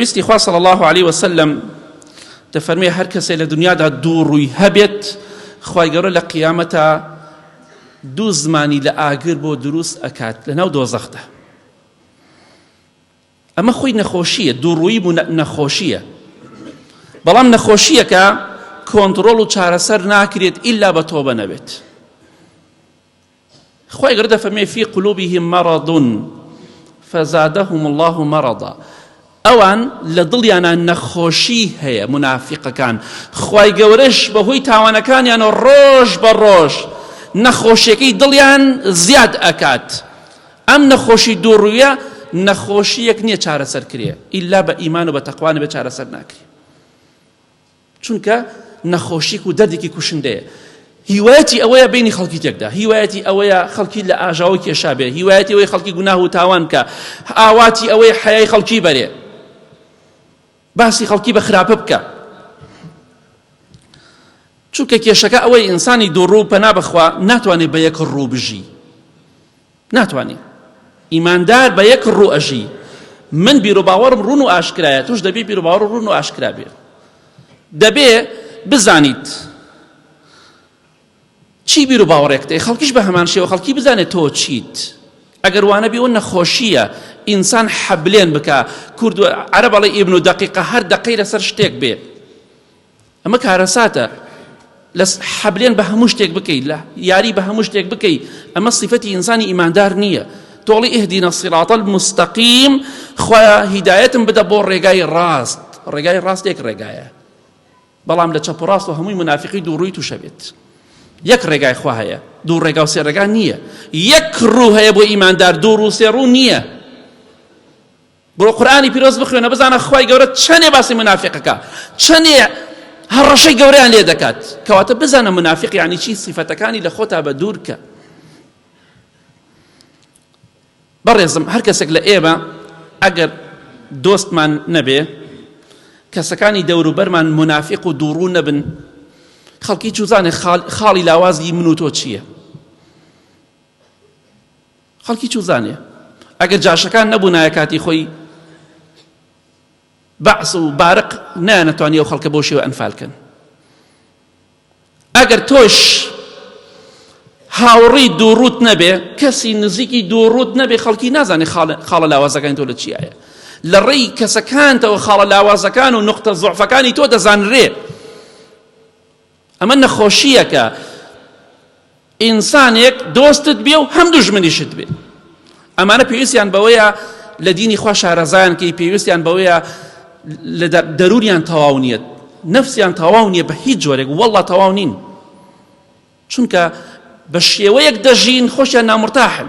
ویستی خوا صلی الله علیه وسلم دەفەرمێ هەر کەسێ لە دنیادا دوو ڕووی هەبێت خی گەورە لە قیامەتە دوو زمانی لە ئاگر بۆ دروست ئەکات لە ناو دۆزەخدا ئەمە خۆی نەخۆشیە دووڕووی بوو نەخۆشیە بەڵام نەخۆشیەکە کۆنتترۆل و چارەسەر ناکرێت ئللا بە تۆبە نەبێت خوای گەورە دەفەرمێ فی قلوبهم مرض فزادهم الله مرضا ئەوان لە دڵیانە نەخۆشی هەیە منافقەکان خوای گەورەش بەهۆی تاوانەکانیان و ڕۆژ بە ڕۆژ نەخۆشیەکەی دڵیان زیاد ئەکات ئەم نەخۆشی دووڕویە نەخۆشیەک نییە چارەسەر کرێ ئللا بە ئیمان و بە تەقوانە بە چارەسەر ناکرێ چونکە نەخۆشیک و دەردێکی کوشندەیە هیوایەتی ئەوەیە بینی خەڵکی تێکدا هیوایەتی ئەوەیە خەڵکی لە ئاژاوە کێشا بێ هیوایەتی ئەوەی خەڵکی گوناه و تاوان کە ئاواتی ئەوەی حەیای خەڵکی بەرێ باسی خەڵکی بە خراپە بکە چونکە کێشەکە ئەوەی ئینسانی دووڕوو پەنا بخوا ناتوانێت بە یەک ڕوو بژی ناتوانی ئیماندار بە یەک ڕوو ئەژی من بیرۆباوەڕم ڕون و ئاشکرایە توش دەبێ بیرۆباوەڕ ڕون و ئاشکرا بێ دەبێ بزانیت چی بیر و باوەڕێکتێ خەڵکیش بە هەمان شێوە خەڵکی بزانێت تۆ چیت ئەگەر وانە بێ و نەخۆشیە ئینسان حەبلێن بکە کورد عرب بەڵێ ئیبن و دقیقە هەر دقەی لەسەر شتێک بێ ئەمە کارەساتە لە حەبلێن بە هەموو شتێک بکەیت لە یاری بە هەموو شتێک بکەیت ئەمە سیفەتی ئینسانی ئیماندار نییە تۆڵی ئهدینە سیڕاتەل مستەقیم خۆیا هیدایەتم بدە بۆ ڕێگای ڕاست ڕێگای ڕاست یەک ڕێگایە بەڵام لە چەپ ڕاست و هەمووی منافقی دووڕووی تووشەبێت یەک ڕێگای خوا هەیە دوو ڕێگا و سێڕێگا نییە یەک ڕوو هەیە بۆ ئیماندار دوو ڕوو سێ ڕوو نییە بڕۆ قورئانی پیرۆز بخوێنە بزانە خوای گەورە چەنێ باسی منافقەکە چەنێ هەڕەشەی گەوریان لێ دەکات کەواتە بزانە منافق یعنی چی سیفەتەکانی لە خۆتا بە دوورکە بەڕێزم هەر کەسێک لە ئێمە ئەگەر دۆستمان نەبێ کەسەکانی دەوروبەرمان منافق و دووڕوو نەبن خەڵکی چوزانێ خاڵی لاوازی من و تۆ چییە خەڵکی چوزانێ ئەگەر جاشەکان نەبوونایە کاتی خۆی بەعس و بارق نەیانەتوانی ئەو خەڵکە بۆ شێوە ئەنفال کەن ئەگەر تۆش هاوڕی دووڕوت نەبێ کەسی نزیکی دووڕوت نەبێ خەڵکی نازانێ خاڵە لاوازەکانی تۆ لە چیایە لە ڕێی کەسەکانتەوە خاڵە لاوازەکان و نقطە زۆعفەکانی تۆ دەزانرێ ئەمە نەخۆشییەکە ئینسانێک دۆستت بێ و هەم دوژمنیشت بێ ئەمانە پێویستیان بەوەیە لە دینی خوا شارەزایان کەی پێویستیان بەوەیە لە دەرونیان تەواو نیەت نەفسیان تەواو نییە بە هیچ جۆرێک وەڵا تەواو نین چونکە بە شێوەیەک دەژین خۆشیان نامرتاحن